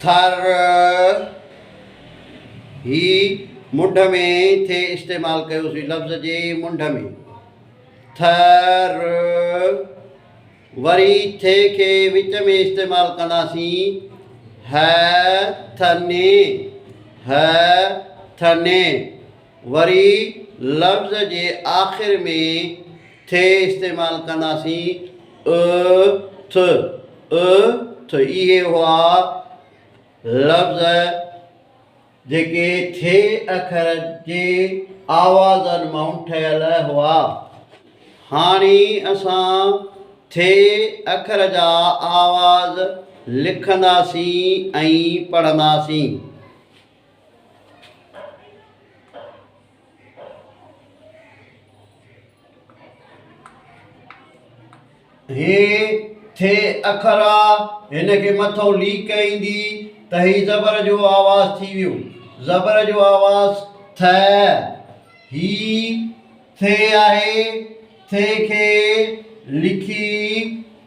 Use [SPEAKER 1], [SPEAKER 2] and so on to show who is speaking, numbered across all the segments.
[SPEAKER 1] ٿر، هي منڍ ۾ ٿي استعمال ڪيوسين لفظ جي منڍ ۾، ٿ، ر، وري ٿي کي وچ ۾ استعمال ڪنداسين، ه، ٿ، ني، ه، ٿ، ني. وري لفظ جي آخر ۾ ٿ استعمال ڪنداسين، ء تھ، ء تھ اھي ھئا لفظ جيڪي ٿ اکر جي آوازن مان ٺھيل ھئا. ھاڻي اسان ٿ اکر جا آواز لکنداسين ۽ پڙھنداسين. هي ٿي اکر آ هن کي مٿئون ليڪ ايندي ته هي زبر جو آواز ٿي ويو زبر جو آواز ٿ هي ٿي آهي ٿي کي لکي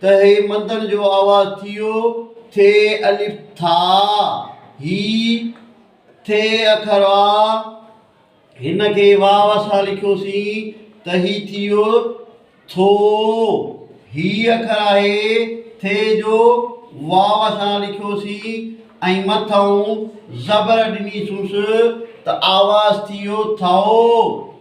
[SPEAKER 1] ته هي مدن جو آواز ٿيو، ٿي الف ٿا، هي ٿ اکر آ، هن کي واو سان لکيوسين ته هي ٿيو ٿو، هي اکر آهي ٿ جو، واو سان لکيوسين ۽ مٿئون زبر ڏنيسونس ته آواز ٿيو ٿئو.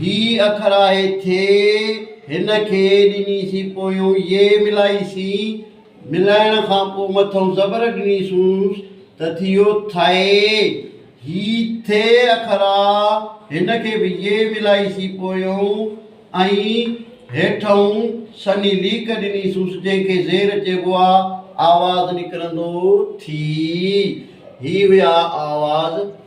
[SPEAKER 1] هي اکر آهي ٿي، هن کي ڏني سين پويون يي ملائي سين، ملائڻ کان پوء مٿئون زبر ڏني سونس ته ٿيو ٿئي. هي ٿ اکر آ، هن کي به يي ملائي سين پويون ۽ هيٺئون سني ليڪ ڏني سونس جنهن کي زير چئبو آ، آواز نڪرندو ٿي. هي هيا آواز.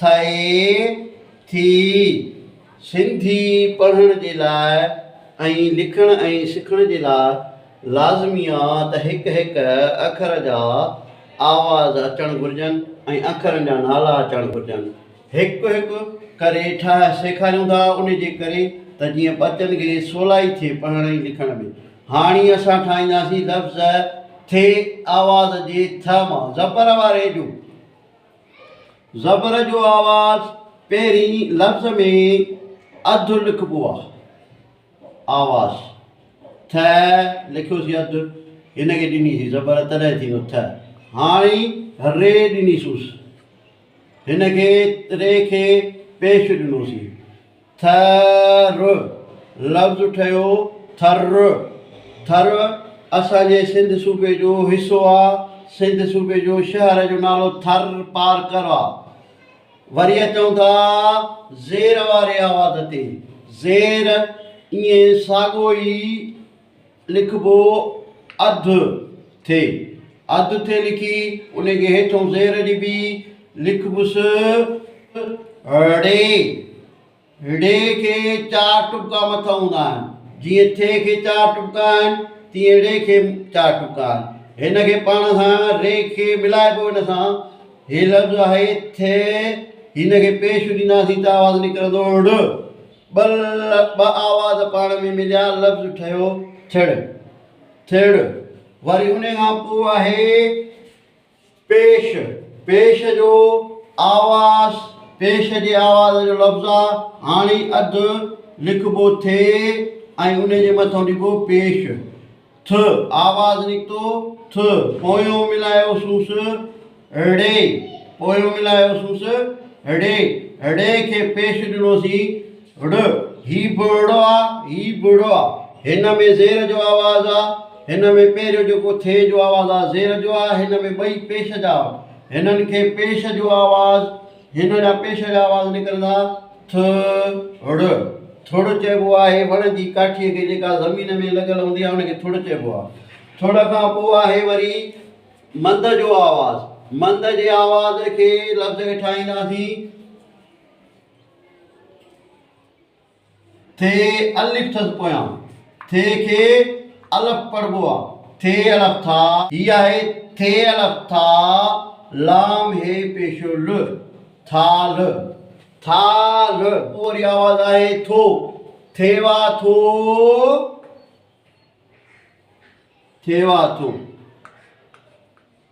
[SPEAKER 1] ٿئي ٿي. سنڌي پڙهڻ جي لاء ۽ لکڻ ۽ سکڻ جي لاء لازمي آ ته هڪ هڪ اکر جا آواز اچڻ گهرجن ۽ اکرن جا نالا اچڻ گهرجن. هڪ هڪ ڪري ٺاهه سيکاريون ٿا ان جي ڪري ته جيئن ٻچن کي سولائي ٿئي پڙهڻ ۽ لکڻ ۾. هاڻي اسان ٺاهينداسين لفظ ٿي آواز جي ٿ مان زبر واري جو. زبر جو آواز پهرين لفظ ۾ اڌ لکبو آ. آواز، ٿ لکيوسين اڌ، هن کي ڏني سين زبر تڏهن ٿيندو ٿ. هاڻي ر ڏني سونس، هن کي ر کي پيش ڏنوسين. ٿ ر لفظ ٺهيو ٿر، ٿر اسان جي سنڌ صوبي جو حصو آ، سنڌ صوبي جو شهر جو نالو ٿر پارڪر آ. وري اچون ٿا زير واري آواز تي زير ائين ساڳو ئي لکبو اڌ ٿي اڌ ٿي لکي انهي کي هيٺون زير ڏبي لکبس ڙي ڙي کي چار ٽٻڪا مٿن هوندا آهن جيئن ٿي کي چار ٽٻڪا آهن تيئن ڙي کي چار ٽٻڪا آهن هن کي پاڻ سان ري کي ملائبو ان سان هي لفظ آهي ٿي هن کي پيش ڏينداسين ته آواز نڪرندو ڙ ٻل، ٻه آواز پاڻ ۾ مليا لفظ ٺهيو ٿڙ، ٿيڙ. وري انهي کان پوء آهي پيش، پيش جو آواز، پيش جي آواز جو لفظ آ هاڻي اڌ لکبو ٿي ۽ انهي جي مٿو ڏبو پيش. ٿ آواز نڪتو ٿ پويون ملايو سوس ڙي پويون ملايو سوس ڙي ڙي کي پيش ڏنوسين ڙ هي به ڙو آ هي به ڙو آ هن ۾ زير جو آواز آ هن ۾ پهريون جيڪو ٿي جو آواز آ زير جو آ هن ۾ ٻئي پيش جا هنن کي پيش جو آواز هن جا پيش جا آواز نڪرندا ٿ ڙھ. ٿڙ چئبو آهي وڻ جي ڪاٺيء کي جيڪا زمين ۾ لڳل هوندي آهي ان کي ٿڙ چئبو آهي. ٿڙ کان پوء آهي وري مند جو آواز. مند جي آواز کي لفظ ۾ ٺاهينداسين. ٿ الف ٿز پويان ٿ کي الف پڙهبو آ ٿ الف ٿا. هي آهي ٿ الف ٿا لام هي پيشو ل ٿالھ ٿالھ. پوء وري آواز آهي ٿو ٿيوا ٿو ٿيوا ٿو.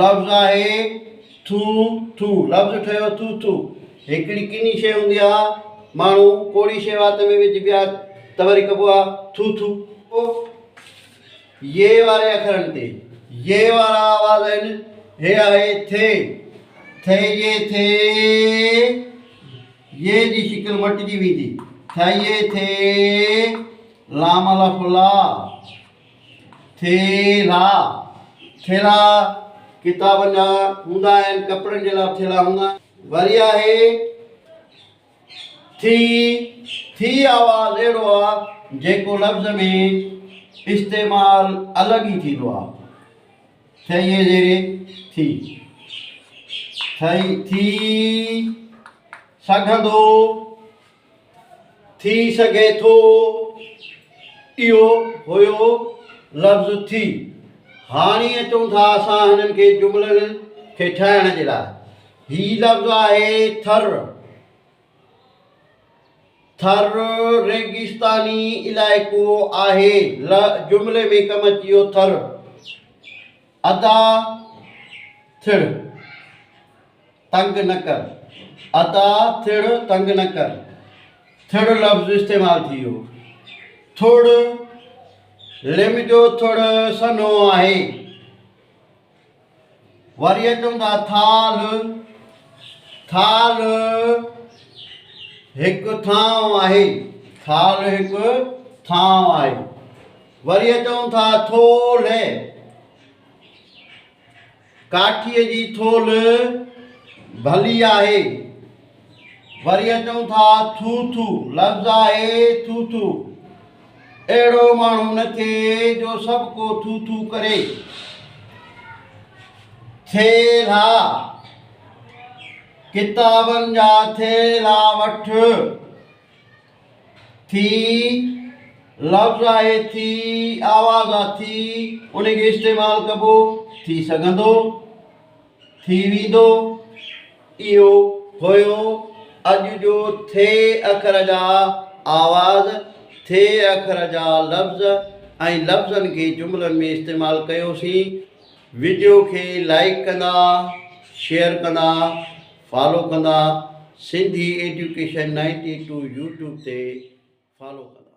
[SPEAKER 1] لفظ آهي ٿو ٿو لفظ ٺهيو ٿو ٿو هڪڙي ڪني شيء هوندي آ ماڻهو ڪوڙي شيء وات ۾ وجهبي آ ته وري ڪبو آ ٿو ٿو. او يي واري اکرن تي يي وارا آواز آهن هي آهي ٿي ٿي يي ٿي يي جي شڪل مٽجي ويندي ٿي يي ٿي لام الف لا. ٿيلها، ٿيلها ڪتابن جا هوندا آهن، ڪپڙن جي لاء به ٿيلها هوندا آهن. وري آهي ٿي، ٿي آواز اهڙو آ جيڪو لفظ ۾ استعمال الڳ ئي ٿيندو آ، ٿيء زيري ٿي، ٿئي، ٿي سگهندو. ٿي سگهي ٿو اهو هيو لفظ ٿي. هاڻي اچون ٿا اسان هنن کي جملن کي ٺاهڻ جي لاء. هي لفظ آهي ٿر. ٿر ريگستاني علائقو آهي. ل جملي ۾ ڪم اچي ويو ٿر. ادا ٿڙ. تنگ نه ڪر عطا ٿڙ تنگ نه ڪر ٿڙ لفظ استعمال ٿي ويو ٿڙ لم جو ٿڙ سنهو آهي وري اچون ٿا ٿال ٿال هڪ ٿانو آهي ٿال هڪ ٿانو آهي وري اچون ٿا ٿولهه ڪاٺيء جي ٿولھ ڀلي آھي. وري اچون ٿا ٿو ٿو لفظ آھي ٿو ٿو اھڙو ماڻھو نه ٿئي جو سڀ ڪو ٿو ٿو ڪري. ٿيلها، ڪتابن جا ٿيلها وٺ. ٿي، لفظ آهي ٿي، آواز آ ٿي، انهي کي استعمال ڪبو، ٿي سگهندو، ٿي ويندو، اهو هيو اڄ جو ٿي اکر جا آواز، ٿي اکر جا لفظ ۽ لفظن کي جملن ۾ استعمال ڪيوسين. وڊيو کي لائيڪ ڪندا، شيئر ڪندا فالو ڪندا Sindhi education ninety two YouTube تي فالو ڪندا.